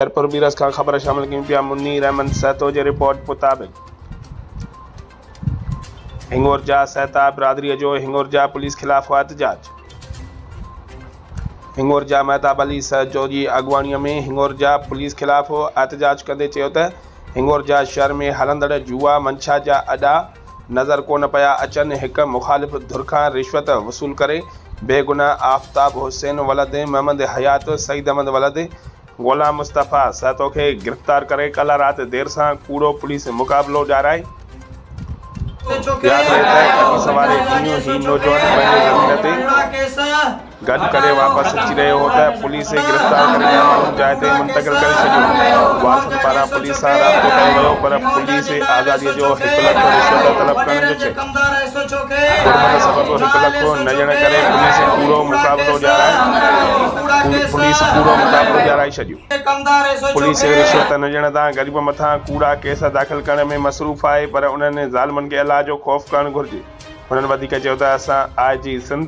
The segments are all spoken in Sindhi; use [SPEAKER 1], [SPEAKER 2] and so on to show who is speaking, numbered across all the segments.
[SPEAKER 1] خيرپور بيرس کان خبر شامل ڪيون پيا منير احمد سهتو جي رپورٽ مطابق هنڱورجا سهتا برادري جو هنڱورجا پوليس خلاف احتجاج هنڱورجا مهتاب علي سهتو جي اڳواڻي ۾ هنڱورجا پوليس خلاف احتجاج ڪندي چيو ته هنڱورجا شهر ۾ هلندڙ جوا منشا جا اڏا نظر ڪونه پيا اچن هڪ مخالف ڌر کان رشوت وصول ڪري بيگناهه آفتاب حسين ولد محمد حيات سعيد احمد ولد غلام مصطفيٰ سهتو کي گرفتار ڪري ڪالهه رات دير سان ڪوڙو پوليس مقابلو ڏيارائي ويو. ياد رهي ته ڪپس واري ڏينهن هي نوجوان پنهنجي زمين تي گڏ ڪري واپس اچي رهيو هو ته پوليس گرفتار ڪري ٻيا ماڻهو جاء تي منتقل ڪري ڇڏيو. وارثن پاران پوليس سان رابطو ڪيو ويو پر پوليس آزادي جو هڪ لک رشوت طلب ڪرڻ جو چئي. ڪورونا جي سبب هڪ لک کان نه ڄڻن ڪري پوليس پورو مقابلو ڏيارائي پوليس پورو مقابلو ڏيارائي ڇڏيو پوليس رشوت نه ڄڻن تان غريبن مٿان ڪوڙا ڪيس داخل ڪرڻ ۾ مصروف آهي پر انهن ظالمن کي الله جو خوف ڪرڻ گهرجي هنن وڌيڪ چيو ته اسان آء جي سنڌ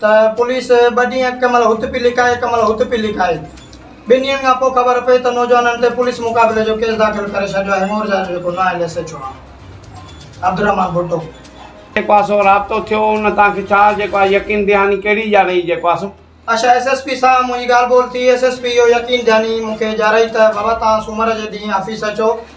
[SPEAKER 2] ته پوليس ٻه ڏينهن ڪنهن مهل هت پي لڪائي ڪنهن مهل هت پي لڪائي. ٻن ڏينهن کان پوء خبر پئي ته نوجوانن تي پوليس مقابلي جو ڪيس داخل ڪري ڇڏيو آهي مورجا جو جيڪو نائب ايس ايڇ او آهي عبدالرحمان ڀٽو. جي ڪو سو
[SPEAKER 3] رابطو ٿيو ان توهان کي ڇا جي ڪو يقين دهاني ڪهڙي اجارئي جي ڪو سو. اچا ايس ايس پي
[SPEAKER 2] سان منهنجي ڳالهه ٻولهه ٿي ايس ايس پي اهو يقين دهاني مون کي اجارئي ته بابا توهان سومر جي ڏينهن آفيس اچو